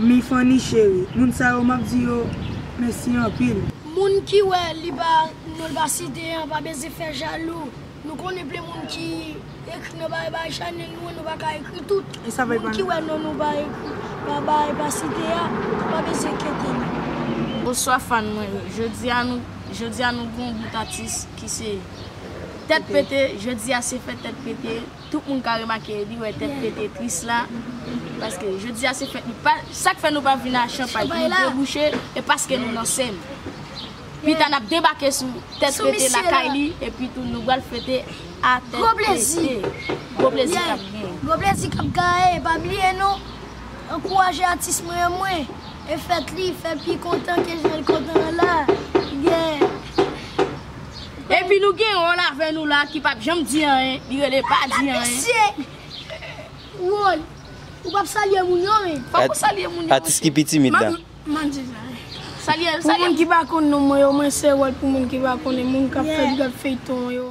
Hmi Fanny chérie moun sa yo map di yo mesi anpil. Moun ki wè li pa non l pa site an pa bezyen fè jalou nou konnen plen moun ki ekri nan bay bay chanel nou an nou paka ekri tout moun ki wè non nou pa ekri pa bay pa site a pa bezyen kete nou. Bonswa fan mwen yo jodia nou jodia nou gen yon bout atis ki se tèt pete jodia se fè tèt pete. Tout moun ka remake li wè tèt pete tris la paske jodi a se fèt li pa sak fè nou pa vin a chanpay pou nou debouche e paske nou nan sèm pita nap debake sou tèt pete lakay li epi tou nou bal fete a tèt pete gwo plezi kap gen gwo plezi kap gaye e pa bliye nou ankouraje atis mwen yo mwen e fèt li fè pi kontan ke jan li kontan an la. Epi nou gen yon avè nou la ki pap janm di anyen, li rele pa di anyen. Atis se Won, ou pap salye moun yo menm. Fòk ou salye moun yo mesye. Atis ki pi timid la. M'en di sa. Salye, salye. Pou moun ki pa konn non mwen yo, mwen se Won pou moun ki pa konnen, moun kap fèt gad feyton an yo.